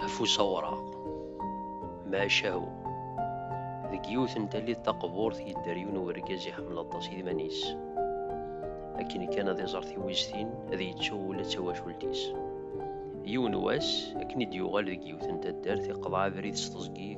afus awraɣ macahu deg yiwet n tallit taqburt yedder yiwen urgaz iḥemmel aṭas idman-is akken kan ad iẓer tiwiztin ad yettu ula d tawacult-is yiwen wass akken i d-yuɣal deg yiwet n taddart iqḍeɛ abrid s teẓgi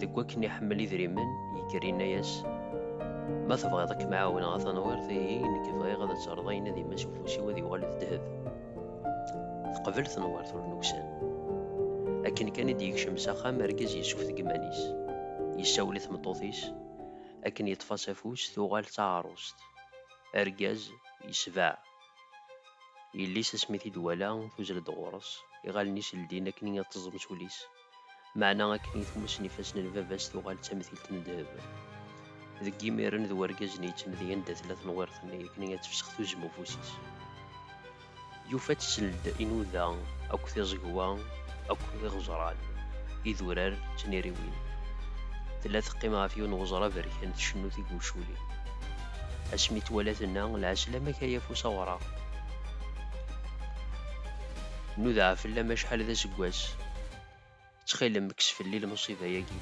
deg wakken iḥemmel idrimen yekker yenna-yas ma tebɣiḍ ad kem-ɛawneɣ a tanwirt ihi nekk bɣiɣ ad terreḍ ayen ad imas ufus-iw ad yuɣal d ddheb teqbel tenwirt ur nuksan akken kan i d-yekcem s axxam argaz yessufteg iman-is yessawel i tmeṭṭut-is akken yeṭṭef-as afus tuɣal d taɛrust argaz yesbeɛ yelli-s asmi t-id-wala tuzzel-d ɣur-s iɣallen-is ldin akken ad teẓẓem s ul-is Meɛna akken i tmuss n ifassen n baba-s tuɣal d tamtilt n ddheb. Deg yimiren d wergaz-nni yetten di anda tella tenwirt-nni akken ad tefsex tuzzem n ufus-is. Yufa-tt seld inuda akk tiẓegwa akk iɣeẓran, idurar d tniriwin. Tella teqqim ɣef yiwen weẓra aberkan tcennu tiguculin. Asmi twala tenna, Lɛeslamak ay afus awraɣ. Nudeɛ fell-am acḥal d aseggas. Ttxil-m, kkes fell-i lmuṣiba-agi,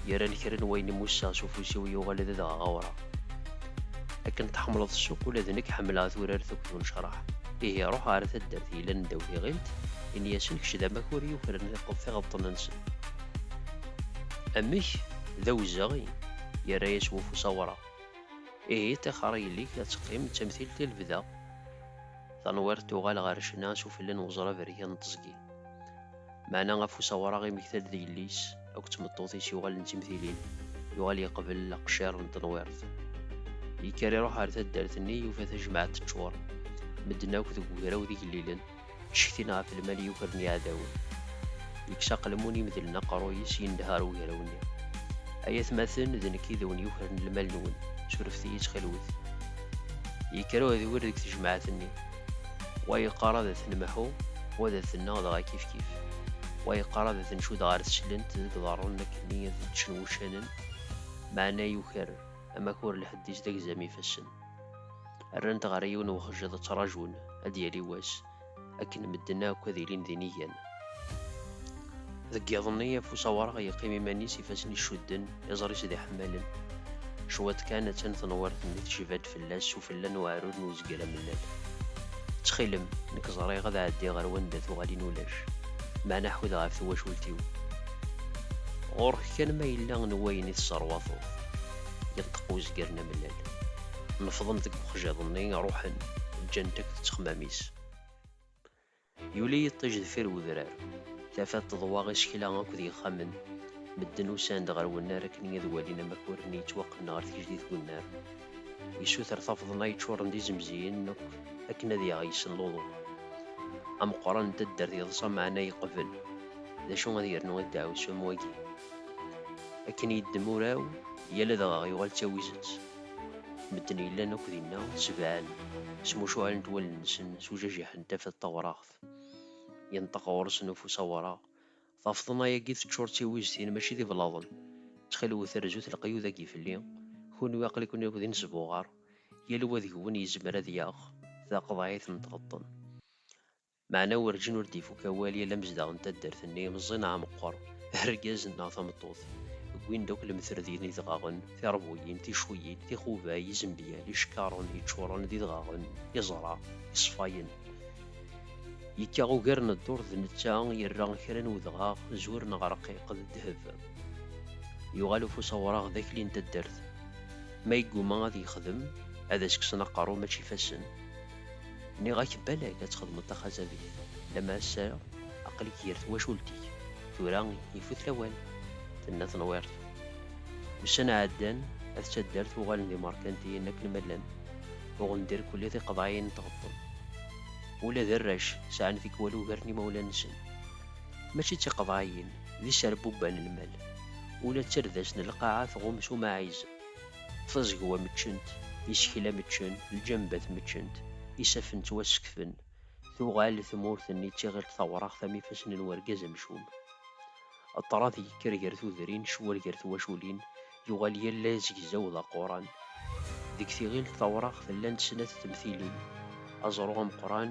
yerran kra n wayen i musseɣ s ufus-iw yuɣal d adɣaɣ awraɣ. Akken tḥemmleḍ ssuq, ula d nekk ḥemmleɣ turart akked unecraḥ. Ihi ruḥ ɣer taddart yellan ddaw tiɣilt, ini-asen kečč d amakur yukren tiɣeḍḍen-nsen. Amek? D awezɣi! yerra-yas wufus awraɣ. Ihi ṭixer a yelli-k ad teqqim d tamtilt i lebda. Tanwirt tuɣal ɣer ccna s ufella n weẓra aberkan n teẓgi. Meɛna afus awraɣ i Mektal d yelli-s akked tmeṭṭut-is yuɣalen d timtilin, yuɣal yeqbel aqciṛ n tenwirt. Yekker iṛuḥ ɣer taddart-nni, yufa tajmaɛt teččuṛ, medden akk deg ugraw d igellilen, ttcetkin ɣef lmal yukren yiɛdawen. Yekkes aqelmun imedlen aqeṛṛuy-is, yendeh ɣer ugraw-nni. Ay atmaten, d nekk i d awen-yukren lmal-nwen, surfet-iyi ttxilwet. Yekker uɛedwir deg tejmaɛt-nni. Wa yeqqar ad t-nemḥu, wa ad t-nneɣ dɣa kifkif. Wa yeqqar ad t-ncudd ɣer teclent deg iḍarren nekkni ad t-ččen wuccanen, meɛna yuker amakur lḥedd-is d agzam ifassen. Rran-t ɣer yiwen wexjiḍ ttrajun ad d-yali wass akken medden akk ad ilin d inigan. Deg yiḍ-nni, afus awraɣ yeqqim iman-is, ifassen icudden, iẓri-s d iḥemmalen. Cwiṭ kan, attan tenwirt-nni tejba-d fell-as s ufella n uɛrur n uzger amellal. Ttxil-m, nekk ẓriɣ ad ɛeddiɣ ɣer wanda tuɣalin ulac, meɛna ḥud ɣef twacult-iw. Ɣur-k kan ma yella n wayen i tesserwateḍ, yenṭeq uzger n amellal. Nefḍen deg uxjiḍ-nni, ruḥen, ǧǧant-ak ttexmam-is. Yuli yiṭij deffir wedrar, tafat teḍwa isekla akked yixxamen. Medden usan-d ɣer wennar akken ad walin amakur-nni yettwaqqnen ɣer tgejdit n wennar. Yessuter tafḍna yeččuren d izemziyen akk akken ad yaɣ yes-sen luḍu. Ameqqran n taddart yeḍsa meɛna yeqbel. D acu ad yernu i ddeɛwessu am wagi? Akken yeddem uraw, yal adɣaɣ yuɣal d tawizet. Medden yellan akk dinna sebɛen, smucuɛlent wallen-nsen s ujajiḥ n tafat tawraɣt. Yenṭeq ɣur-sen ufus awraɣ, Tafeḍna-agi teččur d tiwiztin mačči d iblaḍen. Ttxil-wet rzut leqyud-agi fell-i, kunwi aql-iken akk d inesbuɣar, yal wa deg-wen yezmer ad yaɣ taqeḍɛit n tɣeṭṭen. Meɛna werǧin ur d-ifuk awal yal amezdaɣ n taddart-nni, meẓẓi neɣ meqqer, argaz neɣ tameṭṭut. Wwin-d akk lemter d yidɣaɣen, tiṛbuyin, ticuyin, tixubay, izembyal, icekkaṛen yeččuṛen d idɣaɣen, iẓra, iṣfayen. Yekka ugar n ddurt d netta i yerra kra n wedɣaɣ, zur neɣ ṛqiq, d ddheb. Yuɣal ufus awṛaɣ d akli n taddart. Ma yegguma ad yexdem, ad as-kksen aqeṛṛu mačči ifassen. Nniɣ-ak balak ad txedmeḍ taxazabit, lama ass-a aql-ik gar twacult-ik, tura ifut lawan, tenna tenwirt. Ussan ɛeddan, at taddart uɣalen d imerkantiyen akken ma llan, uɣen-d irkelli tiqeḍɛiyin n tɣeṭṭen. Ula d arrac sɛan tikwal ugar n yimawlan-nsen. Mačči d tiqeḍɛiyin, d iserbubban n lmal. Ula d tardast n lqaɛa tɣum s umaɛiz. Tazegwa meččent, isekla meččen, lǧambat meččent, isafen ttwasekfen, tuɣal tmurt-nni d tiɣilt tawraɣt am ifassen n urgaz amcum. Ṭṭrad yekker gar tudrin, ccwal gar twaculin, yuɣal yal azegzaw d aquran. Deg tiɣilt tawraɣt llant snat temtilin, aẓru ameqqran,